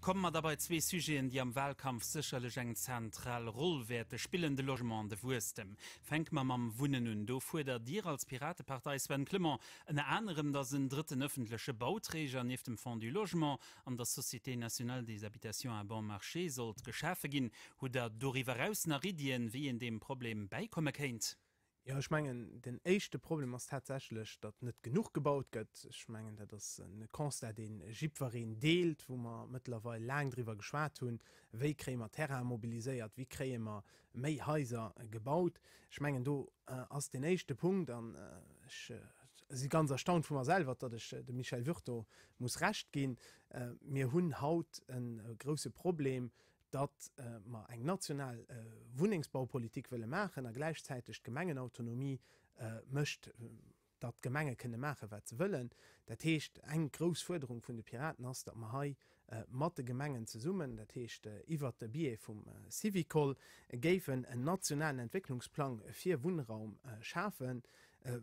Komme mer da bei zwee Sujeten, déi am Wahlkampf sécherlech eng zentral Roll wäerte spillen, de Logement an de Wuesstem. Fänke mer mam Wunnen un. Do fuerdert Dir als Piratepartei, Sven Clement, ënner anerem, datt en drëtten ëffentleche Bauträger nieft dem Fonds du Logement an der Société nationale des habitations à bon marché sollt geschafe ginn. Hutt Der doriwwer eraus nach Iddien, wéi een deem Problem bäikomme kéint? Jo, ech mengen, den éischte Problem ass tatsächlech, datt net genuch gebaut gëtt. Ech mengen, dat ass e Constat, dee jiddwereen deelt, wou mer mëttlerweil laang driwwer geschwat hunn, wéi kréie mer Terraine mobiliséiert, wéi kréie mer méi Haiser gebaut. Ech mengen, do ass deen éischte Punkt. An ech si ganz erstaunt vu mer selwer, datt ech dem Michel Wurth do muss Recht ginn. Mir hunn haut e grousse Problem, datt mer eng national Wunnengsbaupolitik wëlle maachen a gläichzäiteg d'Gemengenautonomie mécht, datt d'Gemenge kënne maache wat se wëllen. Dat heescht, eng grouss Fuerderung vun de Piraten ass, datt mer hei mat de Gemengen zesummen, dat heescht iwwert de Biais vum Syvicol, géifen en nationalen Entwécklungsplang fir Wunnraum schafen,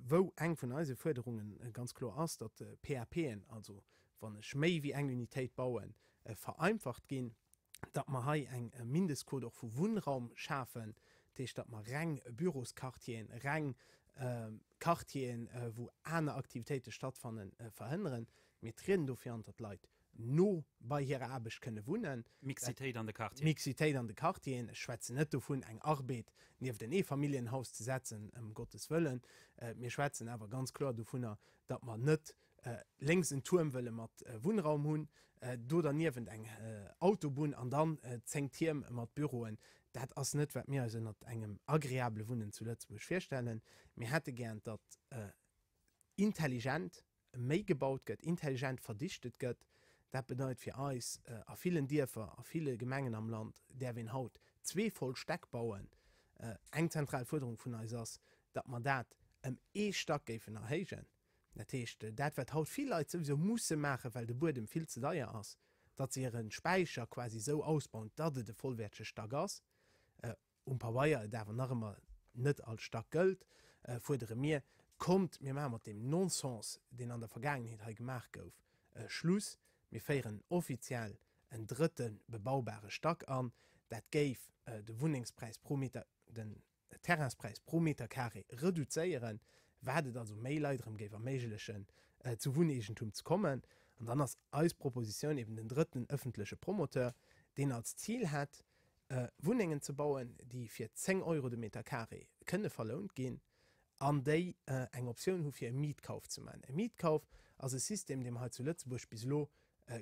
wou eng vun eise Fuerderunge ganz kloer ass, datt PAPen, also wann ech méi wéi eng Unitéit bauen, vereinfacht ginn. datt mer hei eng Mindestquot och vu Wunnraum schafen, dat heescht, datt mer reng Bürosquartieren, reng Quartieren, wou aner Aktivitéite stattfannen, verhënneren. Mir trieden do fir an, datt d'Leit no bei hirer Aarbecht kënne wunnen. Mixitéit an de Quartieren. Mixitéit an de Quartieren. Ech schwätzen net dovun, eng Arbed nieft en Eefamilljenhaus ze setzen, ëm Gottes Wëllen. Mir schwätzen awer ganz kloer dovunner, datt mer net Lénks en Tuerm wëlle mat Wunnraum hunn, do derniewent eng Autobunn an dann 10 Tierm mat Büroen. Dat ass net, wat mir eis ënnert engem agreabele Wunnen zu Lëtzebuerg virstellen. Mir hätte gären, datt intelligent méi gebaut gëtt, intelligent verdichtet gëtt. Dat bedeit fir eis, a villen Dierfer, a ville Gemengen am Land däerf een haut zwee voll Stäck bauen. Eng zentral Fuerderung vun eis ass, datt mer dat ëm ee Stack géifen erhéijen. Dat heescht, dat wat haut vill Leit souwisou musse maachen, well de Buedem vill ze deier ass, datt se hire Späicher quasi esou ausbauen, datt et e vollwäertege Stack ass, um Pabeier et awer nach ëmmer net als Stack gëllt, fuerdere mir, Kommt, mir maache mat deem Non-Sens, deen an der Vergaangenheet hei gemaach gouf, Schluss, mir féieren offiziell en drëtte bebaubare Stack an. Dat géif de Wunnengspräis pro Meter, den de Terrainspräis pro Meter Carré reduzéieren, wat et also méi Leit erëm géif erméiglechen, zu Wunneegentum ze kommen. An dann ass eis Propositioun eben den drëtten ëffentleche Promoteur, deen als Zil hätt, Wunnengen ze bauen, déi fir 10 Euro de Meter Carré kënne verlount ginn an déi eng Optioun hu fir e Mietkauf ze maachen. E Mietkauf ass e System, dee mer hei zu Lëtzebuerg bis elo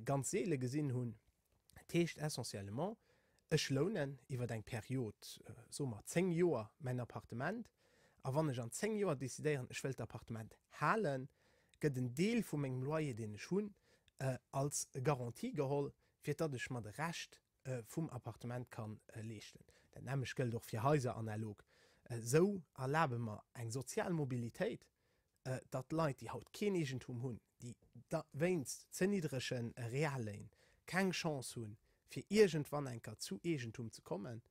ganz seele gesinn hunn. Dat heescht essentiellement, ech lounen iwwer eng Period, soe mer 10 Joer, mäin Appartement a wann ech an 10 Joer decidéieren, ech wëll d'Appartement halen, gëtt en Deel vu mengem Loyer, deen ech hunn, als Garantie geholl, fir datt ech mer de Rescht vum Appartement ka leeschten. Dat nämmlecht gëllt och fir Haiser analog. Esou erlabe mer eng sozial Mobilitéit, datt Leit, déi haut keen Eegentum hunn, déi da wéinst ze niddrege Realléin keng Chance hunn, fir iergendwann eng Kéier zu Eegentum ze kommen,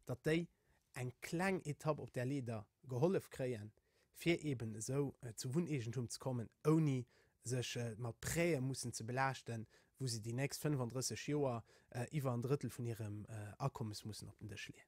datt déi eng kleng Etapp op där Leeder gehollef kréien, fir eben esou zu Wunneegentum ze kommen, ouni sech mat Präe mussen ze belaaschten, wou se déi nächst 35 Joer iwwer en Drëttel vun hirem Akommes mussen op den Dësch leeën.